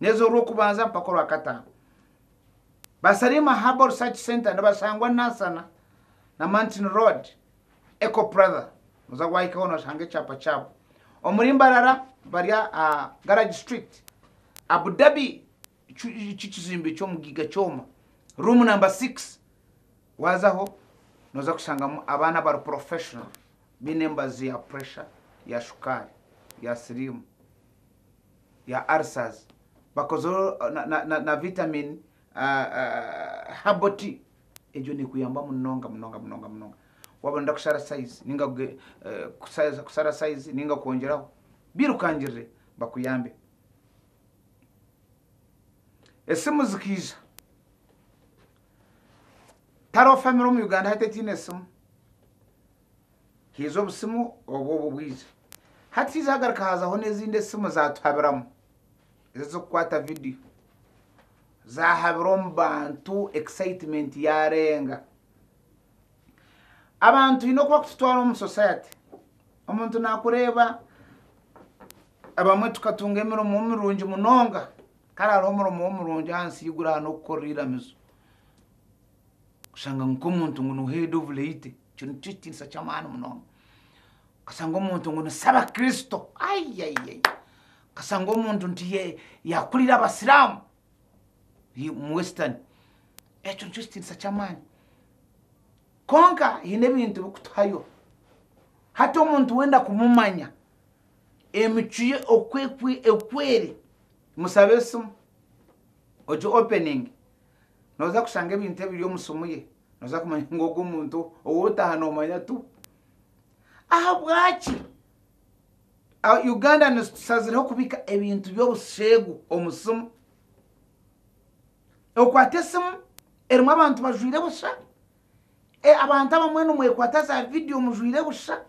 Neeza orw'okubanza mpaka orwakataano. Ba Salima Herbal Research Centre nibashangwa Nansana na Mountain Road, Eco Pratha. Noza wahikaho noshanga ekyapa kyabo. Omuri Mbarara bari aha Garage Street, Abu Dhabi, eki kizimbe ky'omu Giga kyoma, room number six. Wazaho noza kushangamu abaana abari professional, baine emibazi ya pressure, ya shukaari, ya siriimu. ya ulcers bakozeho na vitamin herbal tea egyo nekuyamba munonga munonga munonga munonga waba noyenda kushara size ninga kusara size ninga kwongyeraho birukangirire bakuyambe. Esimu zikaija tariho famire omu Uganda hati etaine simu. Haiza obusimu obwo obu bwaize. Hati haiza hagaruka haazaho n'ezindi esimu zaatuhabiramu, ezi ez'okukwata vidiyo. Zaahabira omu bantu, excitement yaarenga. Abantu twine oku bakututwara omu society. Omuntu naakureeba, abamwe tukatunga emirimo mirungi munonga, kare hariho omurimo omurungi ahansi y'eiguru aha n'okukorera eiramizo. Kushanga ngu nk'omuntu ngu niwe head of late. Ekyo nikyo ekitiinisa ky'amaani munonga. Okashanga omuntu ngu ni Sabakristo. Ayayaya! Okashanga omuntu nti ye- yakurira Abasiraamu hi- mu Western. Ekyo nikyo kitiinisa ky'amaani. Kwonka haine ebintu ebirikutuhayo. Hati omuntu wenda kumumanya, emicwe ye oku ekwe- oku eri, musabe esimu, ogye openinge, Nooza kushanga ebintu ebiri omu simu ye. Nooza kumanya ngu ogu omuntu ou otaaha noomanya tu. Ahabwaki Ugandans tushazireho kubika ebintu by'obusheegu omu simu? Okwata esimu erimu abantu bajwaire busha, e, abantu abamwe nimwekwata za vidiyo mujwaire busha,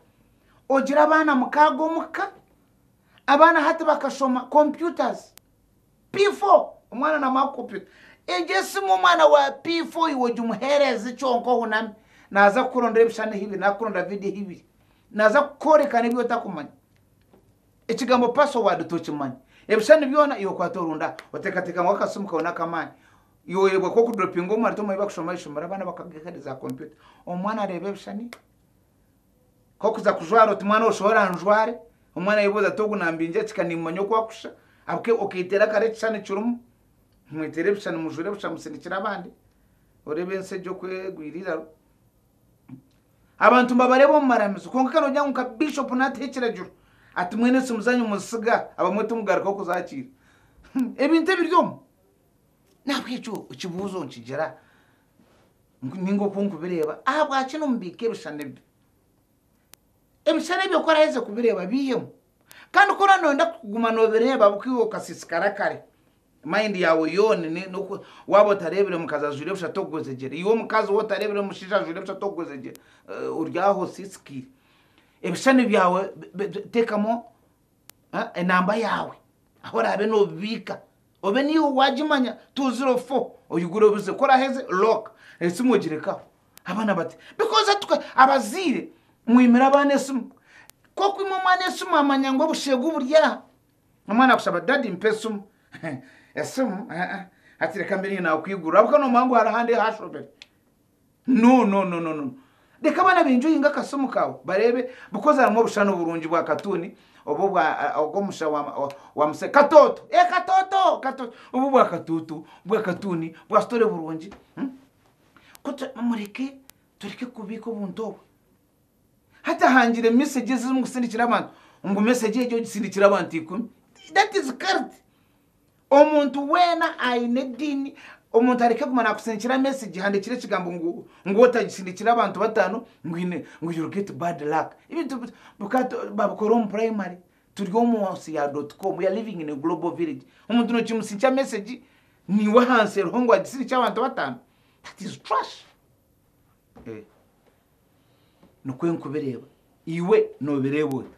ogira abaana mukaaga omu ka, abaana hati bakashoma computers. P4, Omwana namara kukupita, egyo esimu omwana wa P4 iwe ogimuhereze kyonka ohuname naza kukurondera ebishushani ehibiri nari kukurondera vidiyo ehibiri. Naza kukworeka n'ebi otakumanya. Ekigambo password tokimanya. Ebishushani byona iwe okwata orunde aha otekateka ngu akasimu kawe n'akamaani. Iwe oyoberwa ku okudropinga omwana tomanyi bakushoma ahaishomero abaana bakagaiha ahari za kompyuta. Omwana areeba ebishushani. Kokuza kujwara oti mwana osha ora anjware? Omwana ayebuuza ati ogu nambingya ki kandi nimumanya oku akusha? Ahabw'okuba okeeteera akaro ekishushani kirimu. Mweteere ebishushani mujwire busha musindikire abandi. Oreeba ensi egi oku egwire eiraro. Abantu mbabareeba omu maramizo kwonka ka noogira ngu nka Bishop naataho ekiragiro ati mwena esimu zaanyu muzitsiga abamwe timugarukaho kuzaakiira. Ebintu ebiri omu. Nahabw'ekyo ekibuuzo nikigira ninga oku nkubireeba ahabwaki nomubiika ebishushani ebi ebishushani ebyo ku oraheza kubireeba biihemu kandi ku oraba noyenda kuguma nobireeba buka iwe okasiisikara kare mayindi yaawe yoona noku waaba otareebire mukazi ajwaire busha tokugwezegyera iwe omukazi waaba otareebire mushaija ajwaire busha tokugwezegyera ori aho osiisikaire ebishushani byaawe teekamu enamba yaawe ahu oraabe nobibiika Obe niiwe waagimanya tuuzire ofo oyigure obuze ku oraheze lock esimu ogirekaho. Abaana bati Because atuka abazaire mwimire abaana esimu ku okwima omwana esimu amanya ngu obusheegu buri aha. Omwana akushaba Daddy mpa esimu esimu eeh hati reka mbe niinaakwigurira ahabw'okuba noomanya ngu hariho ahandi ahu ashobire. No no no no no Reka abaana benjoyinge akasimo kaawe bareebe because harimu obushana oburungi bwa katuuni oba obwa ogw'omusha wa wa muse katooto ee katooto katooto oba obwa katuutu bwa katuuni bwa story burungi Ku mureke tureke kubiika obuntu obwo Hati ahangire message ezi zirimu kusindikira abantu ngu message egi ogisindikire abantu ikumi that is cult Omuntu weena aine ediini, omuntu areke kuguma nakusindikira message ehandiikire ekigambo ngu ngu otagisindikire abantu bataano ngu haine ngu you'll get bad luck. Ebintu bi bikaba tu babikora omu primary turi omu nsi ya dot com, we are living in a global village. Omuntu nokimusindikira message niiwe ahansi eriho ngu agisindikire abantu bataano? That is trash. Eeh nikwo nkubireeba, iwe nobireeba ota?